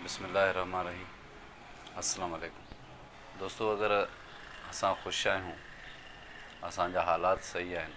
بسم الله الرحمٰن الرحيم السلام عليڪم دوستو اگر اسان خوش آهيون اسان جا حالات صحيح آهن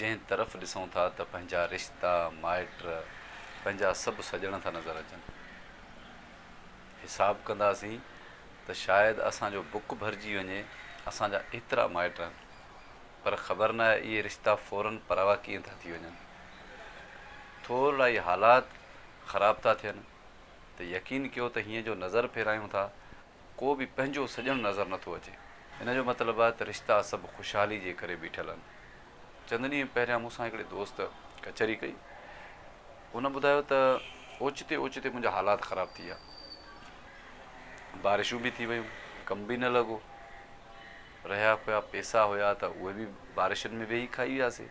جنهن طرف ڏسون ٿا ته پنهنجا رشتا مائٽ پنهنجا سڀ سڄڻ ٿا نظر اچن حساب ڪنداسين ته شايد اسان جو بڪ ڀرجي وڃي اسان جا ايترا مائٽ آهن پر خبر نه اهي رشتا فورن پراوا ڪيئن ٿا ٿي وڃن ٿورڙائي حالات خراب ٿا ٿين ته يقين ڪيو ته هيئن جو نظر ڦيرايون ٿا ڪو به پنهنجو سڄڻ نظر نه ٿو اچي. ان جو مطلب آهي ته رشتا سڀ خوشحالي جي ڪري بيٺل آهن. چند ڏينهن پهريان مون سان هڪڙي دوست ڪچهري ڪئي. هن ٻڌايو ته اوچتي اوچتي منهنجا حالات خراب ٿي ويا. بارشون به ٿي ويون، ڪم به نه لڳو. رهيا ڪويا پيسا هيا ته اهي به بارشن ۾ ويهي کائي وياسي.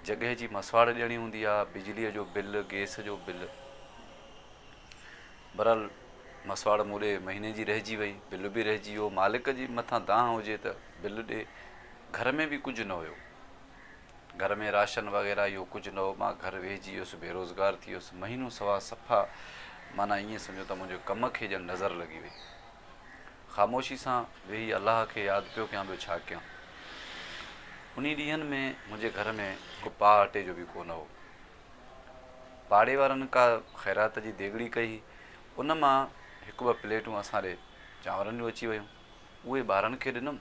جڳهه جي مسواڙ ڏيڻي هوندي آ، بجليء جو بل، گيس جو بل. بھرحال مسواڙ مون ڏي مھيني جي رهجي وئي، بل به رهجي ويو، مالڪ جي مٿان دانهن هجي ته بل ڏي، گهر ۾ به ڪجهه نه هيو، گهر ۾ راشن وغيره اهو ڪجهه نه هو، مان گهر ويهجي ويس، بي روزگار ٿي ويس، مهينو سوا صفا معنيٰ ائين سمجهو ته منهنجي ڪم کي ڄڻ نظر لڳي وئي. خاموشي سان ويهي الله کي ياد پيو ڪيان ٻيو ڇا ڪيان. انهي ڏينهن ۾ منهنجي گهر ۾ هڪ پاء اٽي جو به ڪونه هو. پاڙي وارن ڪا خيرات جي ديڳڙي ڪئي هئي ان مان هڪ ٻه پليٽون اسان ڏي چانورن جون اچي ويون اهي ٻارن کي ڏنم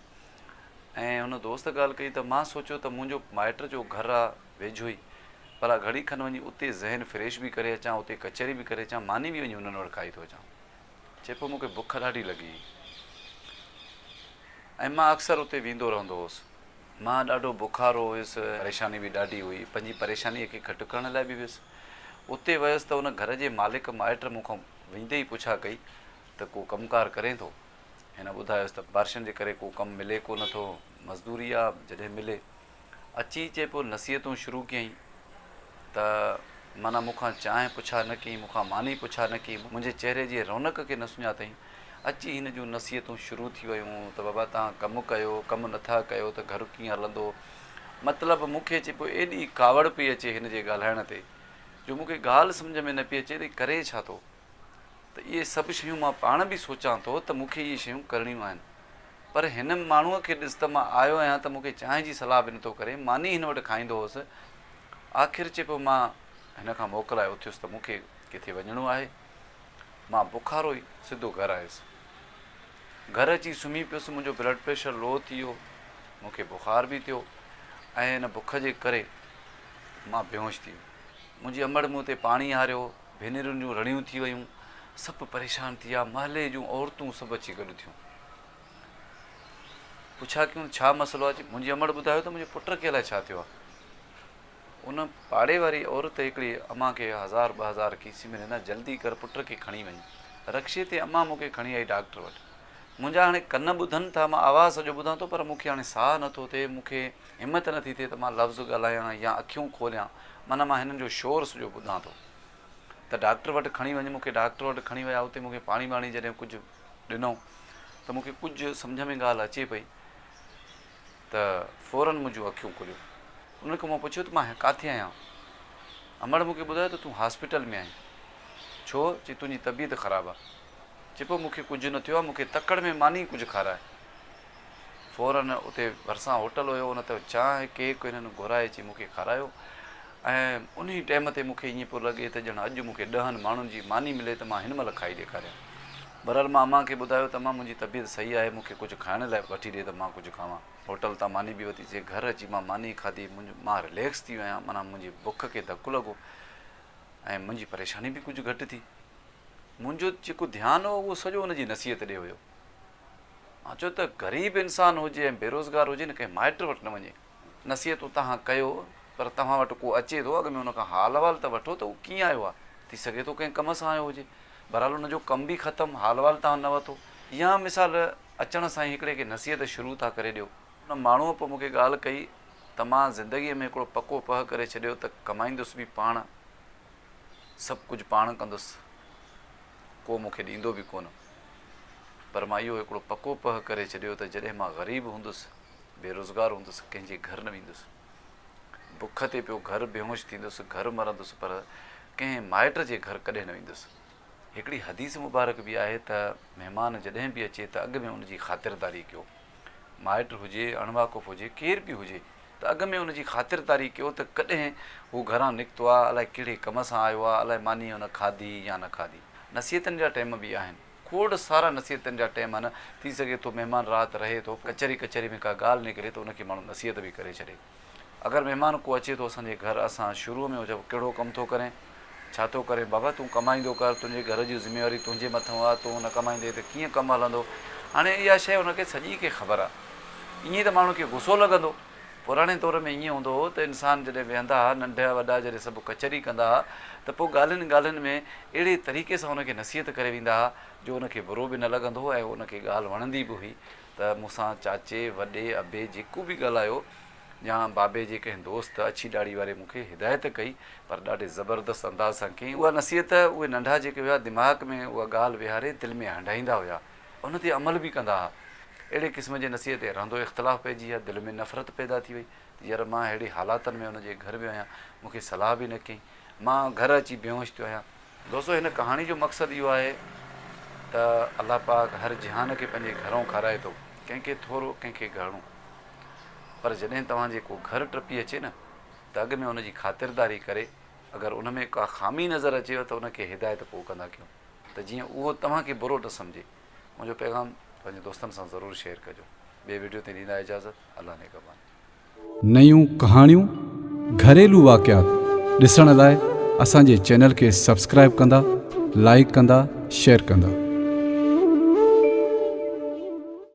۽ هن دوست ڳالهه ڪئي ته مان سوچيو ته منهنجو مائٽ جو گهر آ ويجهو ئي ڀلا گهڙي کن وڃي اتي ذهن فريش به ڪري اچان اتي ڪچهري به ڪري اچان ماني به وڃي انهن وٽ کائي ٿو اچان. چئي پيو مون کي بک ڏاڍي لڳي هئي ۽ مان اڪثر اتي ويندو رهندو هوس. مان ڏاڍو بکارو هيس، پريشاني به ڏاڍي هئي، پنهنجي پريشانيء کي گهٽ ڪرڻ لاء به ويس. اتي ويس ته ان گهر جي مالڪ مائٽ مون کان ويندي ئي پڇا ڪئي ته ڪو ڪم ڪار ڪرين ٿو؟ هن ٻڌايس ته بارشن جي ڪري ڪو ڪم ملي ڪو نه ٿو، مزدوري آ جڏهن ملي. اچي چي پيو نصيحتون شروع ڪيائين ته معنيٰ مون کان چانهه پڇا نه ڪيائين، مون کان ماني پڇا نه ڪيائين، منهنجي چهري جي رونق کي نه سڃاتائين. اچي هن جون نصيحتون شروع ٿي ويون ته بابا توهان ڪم ڪيو، ڪم نه ٿا ڪيو ته گهر ڪيئن هلندو. مطلب مون کي چي پيو ايڏي ڪاوڙ پئي اچي هن جي ڳالهائڻ تي جو مون کي ڳالهه سمجهه ۾ نه پئي اچي ته هي ڪري ڇا ٿو. ته اهي سڀ شيون مان پاڻ به سوچان ٿو ته مون کي اهي شيون ڪرڻيون آهن. پر هن ماڻهوء کي ڏس ته مان آيو آهيان ته مون کي چانهه جي صلاح به نٿو ڪري، ماني هن وٽ کائيندو هوس. آخر چي پيو مان هن کان موڪلائي اٿيس ته مون کي ڪٿي وڃڻو آهي. مان بکارو ئي سڌو گهر آيس. گهر اچي سمهي پيس، منهنجو بلڊ پريشر لو ٿي ويو، مون کي بخار به ٿيو ۽ ان بک جي ڪري مان بيهوش ٿي ويس. منهنجي امڙ مون تي پاڻي هاريو هو. ڀينرن جون رڙيون ٿي ويون. سڀ پريشان ٿي ويا. محلي جون عورتون سڀ اچي گڏ ٿيون. پڇا ڪيون ڇا مسئلو آهي؟ منهنجي امڙ ٻڌايو ته منهنجي پٽ کي الائي ڇا ٿيو آهي. ان پاڙي واري عورت هڪڙي امان کي هزار ٻه هزار کيسي ۾ ڏنا، جلدي ڪر پٽ کي کڻي وڃ. رڪشي تي امان مون کي کڻي آئي ڊاڪٽر وٽ. منهنجا هاڻي ڪن ٻڌن ٿا، مان آواز سڄو ٻڌان ٿو پر مون کي هاڻي ساهه نه ٿو ٿئي، مون کي. همت نٿي ٿئي ته مان لفظ ڳالهايان يا اکيون کوليان، معنيٰ مان هنن جو شور سڄو ٻڌان ٿو. ته ڊاڪٽر وٽ کڻي وڃ. مون کي ڊاڪٽر وٽ کڻي ويا. اتي مون کي پاڻي ٻاڻي جڏهن ڪجهه ڏنو ته مون کي ڪجهه سمجهه ۾ ڳالهه اچي پئي ته فوراً منهنجون اکيون کليون. انهن کان مون پڇيو ته مان ڪاٿي آهيان؟ امڙ مون کي ٻڌايو ته تون هاسپيٽل ۾ آهين. ڇو؟ چي تنهنجي طبيعت خراب آ. چي پوء مون کي ڪجهه نه ٿيو آ، مون کي تڪڙ ۾ ماني ڪجهه کاراء. فورن اتي ڀرسان هوٽل هيو ان تان چانهه ڪيڪ هنن گهرائي اچي مون کي کارايو ۽ انهي ٽيم تي مون کي ائين پيو لڳي ته ڄڻ اڄ مون کي ڏهن ماڻهن جي ماني ملي ته مان هن مهل کائي ڏيکاريان. بهرحال مان امان کي ٻڌايو ته امان منهنجي طبيعت صحيح آهي مون کي ڪجهه کائڻ لاء وٺي ڏي ته مان ڪجهه کاوان. هوٽل تان ماني به وتي سي گهر اچي مان ماني کاڌي مان رليڪس ٿي ويو آهيان معنيٰ منهنجي بک کي ڌڪ لڳو ۽ منهنجي پريشاني به ڪجهه گهٽ ٿي. منهنجو جيڪو ڌيان هو اهو سڄو ان جي نصيحت ڏي هيو. مان چيو ته غريب انسان هجي ۽ بيروزگار هجي نه ڪنهن مائٽ وٽ نه وڃي. نصيحتون توهان ڪيو پر توهان وٽ ڪو اچي ٿو اڳ ۾ ان کان حال احوال ته وٺو ته هو ڪيئن آيو آهي. ٿي سگهي ٿو ڪنهن ڪم سان آيو هجي. بهرحال ان جو ڪم به ختم، حال احوال توهان نه وتو. يا مثال اچڻ سان ئي هڪڙي کي نصيحت شروع ٿا ڪري ڏيو. ان ماڻهوء پوء مون کي ڳالهه ڪئي ته مان زندگيء ۾ هڪڙو پڪو پهه ڪري ڇڏيو ته ڪمائيندس به پاڻ، سڀ ڪجهه پاڻ ڪندس. ڪو مون کي ڏيندو به ڪونه. پر مان اهو هڪڙو پڪو پهه ڪري ڇڏيو ته جڏهن مان غريب هوندس، بي روزگار هوندس، ڪنهن جي گهر نه ويندس. بک تي پيو گهر بيهوش ٿيندس، گهر مرندس پر ڪنهن مائٽ جي گهر ڪڏهن نه ويندس. هڪڙي حديث مبارڪ به آهي ته مهمان جڏهن به اچي ته اڳ ۾ ان جي خاطرداري ڪيو. مائٽ هجي، اڻواقف هجي، ڪير به هجي. ته اڳ ۾ ان جي خاطرداري ڪيو ته ڪڏهن هو گهران نڪتو آ، الائي ڪهڙي ڪم سان آيو آ، الائي ماني هن کاڌي يا نه کاڌي. نصيحتن جا ٽيم به آهن. کوڙ سارا نصيحتن جا ٽيم آهن. ٿي سگهي ٿو مهمان رات رهي ٿو، ڪچهري ڪچهري ۾ ڪا ڳالهه نڪري ته ان کي ماڻهو نصيحت به ڪري ڇڏي. اگر مهمان ڪو اچي ٿو اسان جي گهر، اسان شروع ۾ هجئون ڪهڙو ڪم ٿو ڪرين؟ ڇا ٿو ڪرين بابا تون ڪمائيندو ڪر تنهنجي گهر جي ذميواري تنهنجي مٿئون آ تون نه ڪمائيندين ته ڪيئن ڪم هلندو هاڻي اها شيء هن کي سڄي کي خبر آ ائين ته ماڻهن کي غصو لڳندو پراڻي دور ۾ ائين هوندو هو ته انسان جڏهن ويهندا ها ننڍا وڏا جڏهن سڀ ڪچهري ڪندا ها ته پوء ڳالهين ڳالهين ۾ اهڙي طريقي سان هن کي نصيحت ڪري ويندا ها جو هن کي برو به نه لڳندو هو ۽ هن کي ڳالهه وڻندي به هئي ته مون سان چاچي وڏي ابي جيڪو به ڳالهايو ڄان بابي جي ڪنهن دوست اڇي ڏاڙهي واري مون کي هدايت ڪئي پر ڏاڍي زبردست انداز سان ڪيائين اها نصيحت اهي ننڍا جيڪي هيا دماغ ۾ اها ڳالهه ويهاري دل ۾ هنڊائيندا هيا ان تي عمل به ڪندا ها اهڙي قسم جي نصيحت تي رهندو اختلاف پئجي هيا دل ۾ نفرت پيدا ٿي وئي ير مان ههڙي حالاتن ۾ ان جي گهر ويو آهيان مون کي صلاح به نه ڪيائين مان گهر اچي بيهوش ٿيو آهيان دوستو هن ڪهاڻي جو مقصد اهو آهي ته الله پاڪ هر جهان کي پنهنجي گهرئون کارائي ٿو ڪنهن کي ٿورو ڪنهن کي گهڻو پر جڏهن توهان جي ڪو گهر ٽپي اچي نه ته اڳ ۾ ان جي خاطرداري ڪري اگر ان ۾ ڪا خامي نظر اچيو ته ان کي هدايت پوء ڪندا ڪيون ته جيئن اهو توهان کي برو نه سمجهي منهنجو پيغام پنهنجي دوستن سان ضرور شيئر ڪجو ٻي وڊيو تائين ڏيندا اجازت الله نگهبان. نيون ڪهاڻيون، گهريلو واقعات ڏسڻ لاء اسان جي چينل کي سبسڪرائيب ڪندا، لائيڪ ڪندا، شيئر ڪندا.